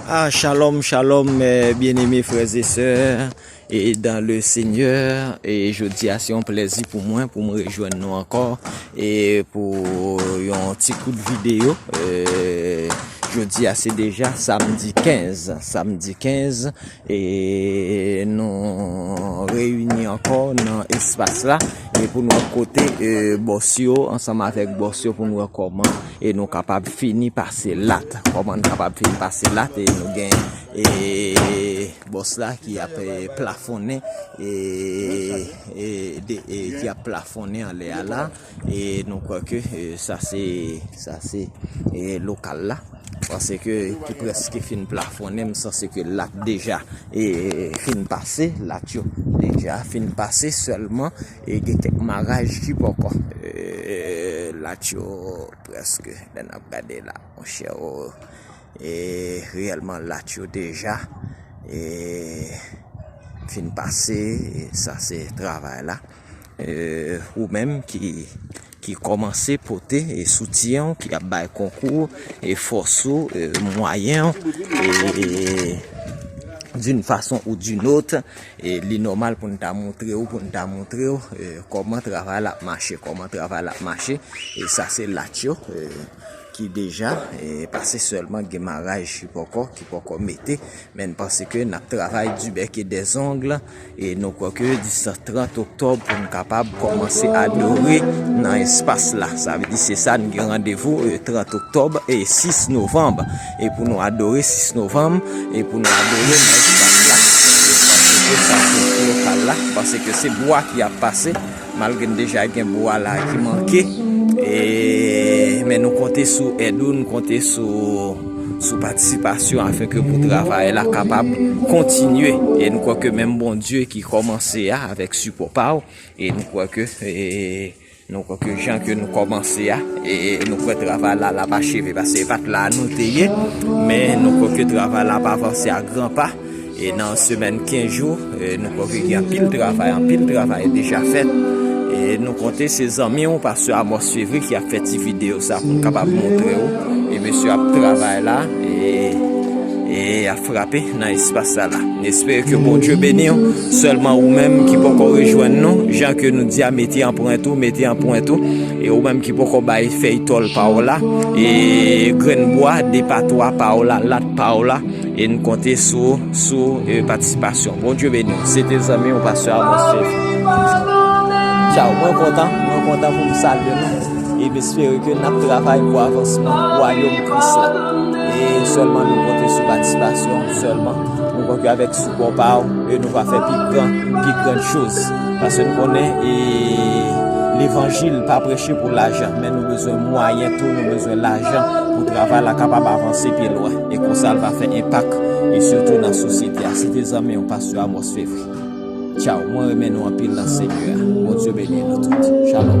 Ah shalom shalom mes bien aimé frères et sœurs et dans le seigneur et je di a se yon plèzi pou mwen pou mwen rejwenn nou ankò et pou yon ti kout video je di a se deja samdi 15 samdi 15 E nou reyini ankò nan espas la e pou nou wè kote bòs yo ansanm avèk bòs yo pou nou wè kòman e nou kapab fini pase lat. Kòman nou kapab fini pase lat e nou gen e bòs la ki ap plafonnen e ki ap plafonnen anlè a la. e nou kwè ke sa se sa se lokal la panse ke ki preske fin plafonnen m sanse ke lap deja e fin pase lat yo deja fin pase selman e gen kek maraj ki poko e lat yo preske lè nap gade la monchè o e reyelman lat yo deja e fin pase sa se travay la Ou menm ki kòmanse pote soutyen ou, ki ap bay konkou ou, e fòs ou, e mwayen ou, e doun fason ou doun ot, e li nòmal pou n ta montre ou, pou n ta montre ou, kòman travay la ap mache, kòman travay la ap mache, e sa se lach yo, ki deja, e pa se sèlman gen maraj ki pòkò, ki pòkò mete, men n panse ke n ap travay di bèk e de zong. E nou kwè ke distan 30 oktòb pou nou kapab kòmanse adore nan espas la. Sa vle di se sa nou gen randevou 30 oktòb e 6 novanm. E pou nou adore 6 novanm, e pou nou adore nan espas la. Espas se pou sa se pou lokal la. Pase ke se bwa ki ap pase. Malgre n deja gen bwa la ki manke, men nou konte sou èd ou, nou konte sou patisipasyon afenke pou travay la kapab kontinye. E nou kwè ke menm Bondye ki kòmanse a avèk sipò pa ou, e nou kwè ke nou kwè ke jan ke nou kòmanse a, e nou kwè travay la la pa cheve. Pase e pat la nou te ye, men nou kwè ke travay la pa avanse a gran pa. E nan semèn 15 jou, nou kwè ke gen anpil travay, anpil travay deja fèt. E nou konte se zanmi ou, Pastè Amos Fevry ki ap fè ti videyo sa pou nou kapab montre ou. E mesye ap travay la, e ap frape nan espas sa la. N espere ke Bondye beni ou. Sèlman ou menm ki poko rejwenn nou, jan ke nou di a, mete anprent ou, mete anprent ou. E ou menm ki poko bay fèy tòl pa ou la, e grenn bwa, de pa twa pa ou la, lat pa ou la. E n konte sou ou sou patisipasyon. Bondye beni w. Se te zanmi w Pastè Amos Philippe. Tchaw. Mwen kontan. Mwen kontan pou m salye nou. E m espere ke n ap travay pou avansman wayòm Kris la. E sèlman nou konte sou patisipasyon w sèlman. Nou kwè ke avèk sipò pa w e nou va fè pi gran, pi gran choz. Pase n konnen e levanjil pa preche pou lajan. Men nou bezwen mwayen tou, nou bezwen lajan pou travay la kapab avanse pi lwen. E konsa l va fè enpak e sitou nan sosyete a. Se te zanmi w Pastè Amos Fevry. Tchaw mwen renmen nou anpil nan Senyè a. Bondye beni nou tout. Shalom.